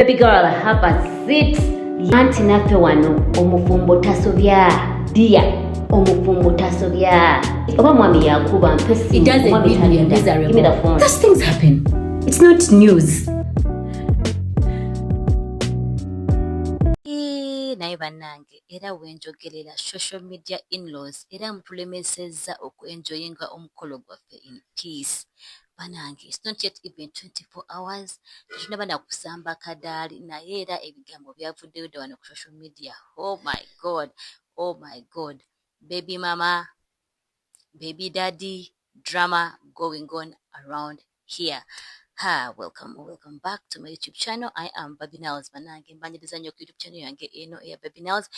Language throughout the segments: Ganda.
Baby girl have a seat. Anti naffe wano omufumbo tasobya dia omufumbo tasobya oba mwami yakuba mpe naye bannange era wenjogerera social media inlaws era mutulemesezza okuenjoyinga omukolo gwaffe in peace banange it's not yet even 24 hours tetunaba nakusamba kadaali naye era ebigambo byavuddeyo dda wano ku social media oh my god oh my god baby mama baby daddy drama going on around here Hi, welcome or welcome back to my YouTube channel. I am Baby Nails Banange. Mbanyiriza nyo ku YouTube channel yange eno eya Baby Nails.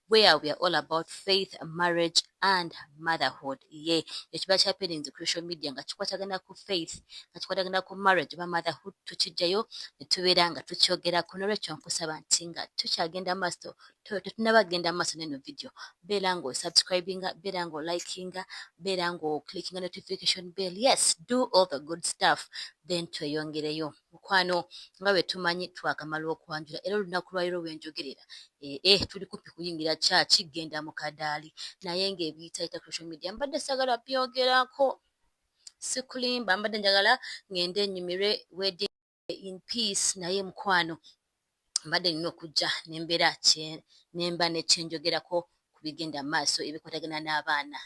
where we are all about faith marriage and motherhood ye ekiba kya parents crucial media nga kikwatagana ku faith nga kikwatagana ku marriage oba motherhood tukijjayo ne tubeera nga tukyogerako nolwekyo nkusaba nti nga tukyagenda maaso tetunaba kugenda maaso neno video beera nga osubscribinga beera nga olikinga beera nga oclickinga notification bell yes do all the good stuff then tweyongereyo Mukwano nga bwe tumanyi twakamala okwanjula era olunaku lwa leero lwe njogerera eh, eh, tuli kumpi kuyingira kyaki genda mu kadaali naye ng'ebiyitayita ku social media mbadde sagala byogerako sikulimba mbadde njagala ng'ende enyumirwe wedding in peace naye mukwano mbadde nina okujja nembeera nemba nekyenjogerako ku bigenda mu maaso ebikwatagana n'abaana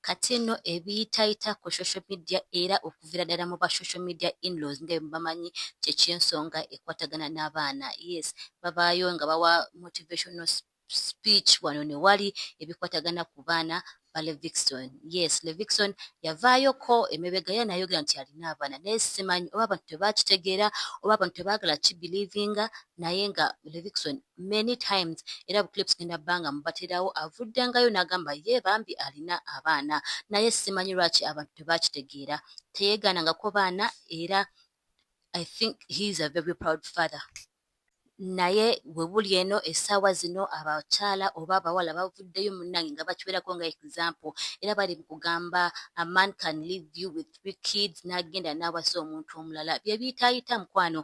kati nno ebiyitayita ku social media era okuviira ddala mu ba social media inlaws nga bamanyi kyekyensonga ekwatagana n'abaana yes babaayo nga bawa motivational speech wano ne wali ebikwatagana ku baana ba Levixon. Yes, Levixon yavaayoko emebega ye nayogera nti alina abaana naye simanyi oba abantu tebakitegeera oba abantu tebaagala kibelivinga naye nga Levixon many times era bu clips genda banga mubaterawo avuddengayo n'agamba ye bambi alina abaana naye simanyi lwaki abantu tebakitegeera teyeegaanangako baana era I think he is a very proud father. Naye we buli eno essaawa zino abakyala oba abawala bavuddeyo munnange nga bakiwerako nga example era bali mu kugamba a man can leave you with three kids n'agenda n'awasa omuntu omulala bye biyitaayita mukwano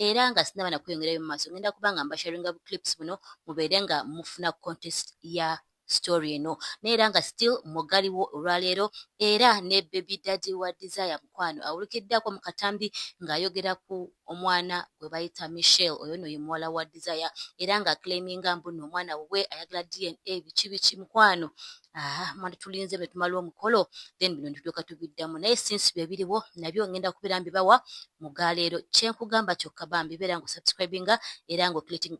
era nga sinaba nakweyongerayo mu maaso ngenda kuba nga mbasharinga bu clips buno mubeere nga mufuna contest ya story eno neera nga still mugaliwo olwaleero era ne baby daddy wa desire mukwano awulikiddako mu katambi ng'ayogera ku omwana gwe bayita michelle oyo no ye muwala wa desire era nga claiminga mbuno omwana wuwe ayagala dna biki biki mukwano aha mwana tulinze bwe tumala omukolo then bino nitutuuka tubiddamu naye sinsi bye biriwo nabyo ngenda kubeera mbibawa mu galeero kyenkugamba kyokka bambi beera nga osubscribinga era nga okilitinga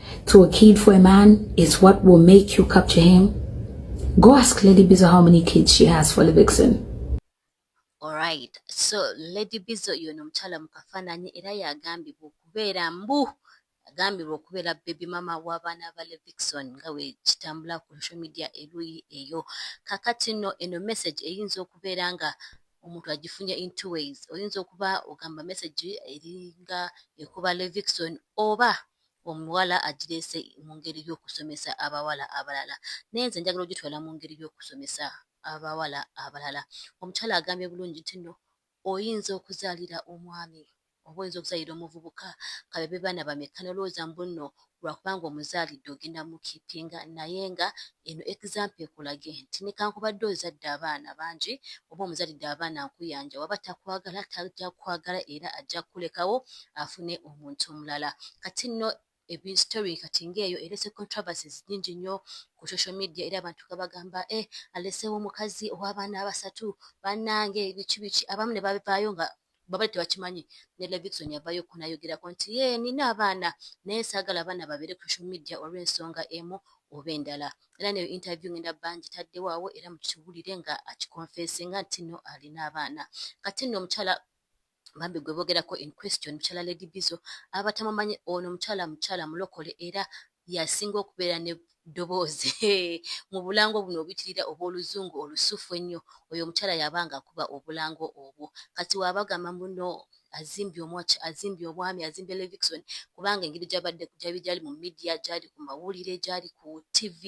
to a kid for a man is what will make you capture him? Go ask Lady Bizo how many kids she has for the vixen. Alright, so Lady Bizo yono omukyala mu kafaananyi era yagambibwa okubeera mbu agambibwa okubeera baby mama w'abaana ba Levixon nga bwe kitambula ku social media eruuyi eyo. Kakati nno eno message eyinza okubeera nga omuntu agifunye in two ways. Oyinza okuba ogamba message eringa ekuba Levixon oba omuwala agireese mu ngeri y'okusomesa abawala abalala naye nze njagala ogitwala mu ngeri y'okusomesa abawala abalala omukyala agambye bulungi nti no oyinza okuzaalira omwami oba oyinza okuzaalira omuvubuka kabebe baana bamekka nolowooza mbu nno lwakubanga omuzaalidde ogenda mukipinga naye nga eno example ekulage nti nekankubadde ozadde abaana bangi oba omuzalidde abaana nkuyanja waba takwagala tajja kukwagala era ajja kukulekawo afune omuntu omulala kati nno story kati ng'eyo erese controversies nyingi nnyo ku social media era abantu nga bagamba e eh, aleseewo omukazi ow'abaana abasatu bannange biki biki abamu ne babivaayo nga babali tebakimanyi ne levikson yavayo ku nayogerako nti ye nina abaana naye saagala abaana babeere ku social media olw'ensonga emu oba endala era neyo interview ngenda bangi taddewo awo era mukiwulire nga akikonfesinga nti no alina abaana kati nno omukyala bambi gwe bogerako in question mukyala lady bizo aba tamumanyi ono mukyala mukyala mulokole era yasinga okubeera ne ddoboozi mu bulango buno obitirira obw'oluzungu olusufu ennyo oyo omukyala yabanga akuba obulango obwo kati waabagamba muno azimbye omwaki azimbye obwami azimbye levixon kubanga engeri gyabadde gyabi gyali mu midiya gyali ku mawulire gyali ku tv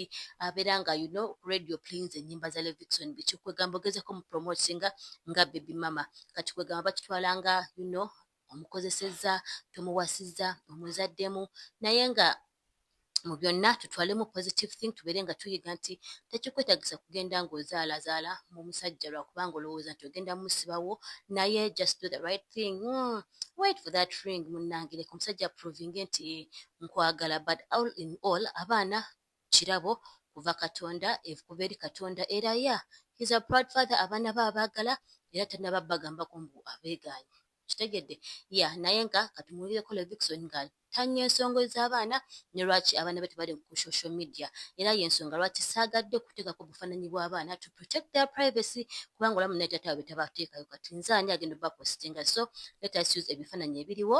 abeera nga you know radio plains ennyimba za levixon biki kwegamba ogezeko mu promotinga nga bebi mama kati kwegamba bakitwala nga you know omukozesezza tomuwasizza omuzaddemu naye nga mu byonna tutwalemu positive thing tubeere nga tuyiga nti tekikwetagisa kugenda ng'ozaalazaala mu musajja lwakubanga olowooza nti ogenda musibawo naye just do the right thing mm, wait for that ring munnangireka omusajja provinge nti nkwagala but all in all abaana kirabo kuva katonda kuva eri katonda era ya he's a proud father abaana be abaagala era tanaba bagambako mbu abeegaanyi okitegedde ya naye nga katumuwulireko Levixone nga tanya ensonga ez'abaana ne lwaki abaana be tebali ku social media era y'ensonga lwaki saagadde kuteekako bufaananyi bw'abaana to protect their privacy kubanga olamu naye taata waabwe tabateekayo kati nze ani agenda obapositinga so let us use ebifaananyi ebiriwo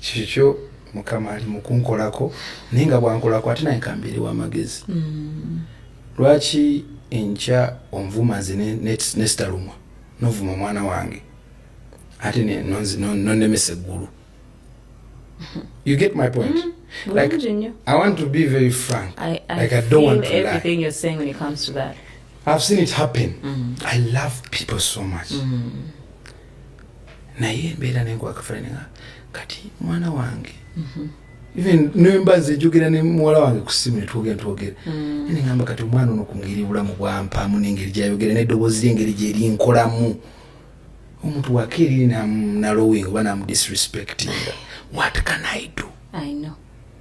Kikyo mukama ali mukunkolako naye nga bwankolako ate naye kambeere wamagezi mm. lwaki enkya onvuma nze nesitalumwa novuma omwana wange ate nonemesa eggulu you get my point mm. like i want to be very frank I, I like i don't want to everything lie. you're saying when it comes to that i've seen it happen mm. i love people so much mm. naye embeera nenkwakafalinga kati mwana wange mhm. even nemba nze njogera ne muwala wange ku ssimu netwogera netwogera mm. ne ngamba kati omwana ono ku ngeri bulamu bwampaamu n'engeri gyayogera n'eddoboozi ly'engeri gyerinkolamu omuntu wakeeriri nalowing oba namudisrespectinga what can i do I know.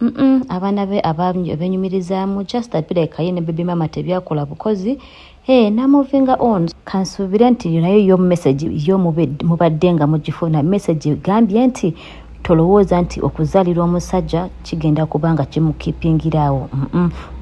Mm-mm, abaana be abenyumirizaamu just apireka ye ne baby mama tebyakola bukozi hey, namovinga on kansuubire nti nayo yo message yo mubadde nga mugifuna message gambye nti tolowooza nti okuzalira omusajja kigenda kubanga kimukipingiraawo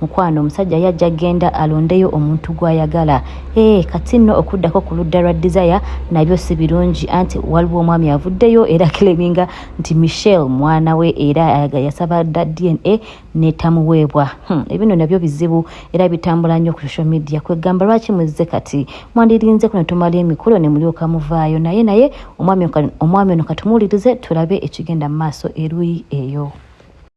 mukwano omusajja yajja genda alondeyo omuntu gwayagala ee eh, kati nno okuddako ku ludda lwa desire nabyo si birungi anti waliwo omwami avuddeyo era kileminga nti michelle mwana we era yasaba dda dna netamuweebwa hmm, ebino nabyo bizibu era bitambula nnyo ku social media kwegamba lwaki muzze kati mwandirinze kuno tumala emikolo ne mulyoka muvaayo naye naye omwami ono katumuwulirize tulabe ekigenda mu maaso eruyi eyo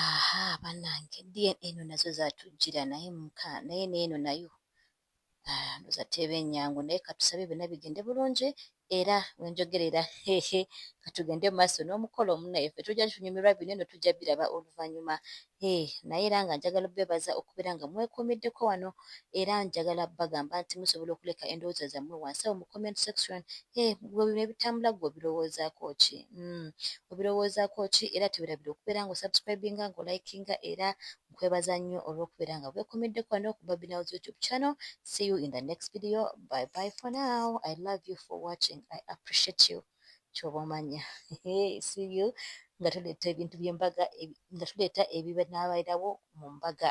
aha banange dna eno nazo zatujjira naye muka naye neeno nayo ah, ndoza teeba enyangu naye katusabe byonna bigende bulungi era wenjogera era hehe katugende mu maaso n'omukolo omunaye ffe tujja tunyumirwa bino eno tujja biraba oluvannyuma Hee naye era nga njagala obebaza okubeera nga mwekuumiddeko wano era njagala bagamba nti musobola okuleka endowooza zammwe wansi awo mu comment section hee gwe bino ebitambula gwe obirowoozaako ki mm obirowoozaako ki era tewerabira okubeera nga osubscribinga nga olikinga era nkwebaza nnyo olw'okubeera nga bwekuumiddeko wano ku babinals youtube channel see you in the next video bye bye for now i love you for watching i appreciate you kyoba omanya siyu nga tuleeta ebintu byembaga nga tuleeta ebibanabairawo mu mbaga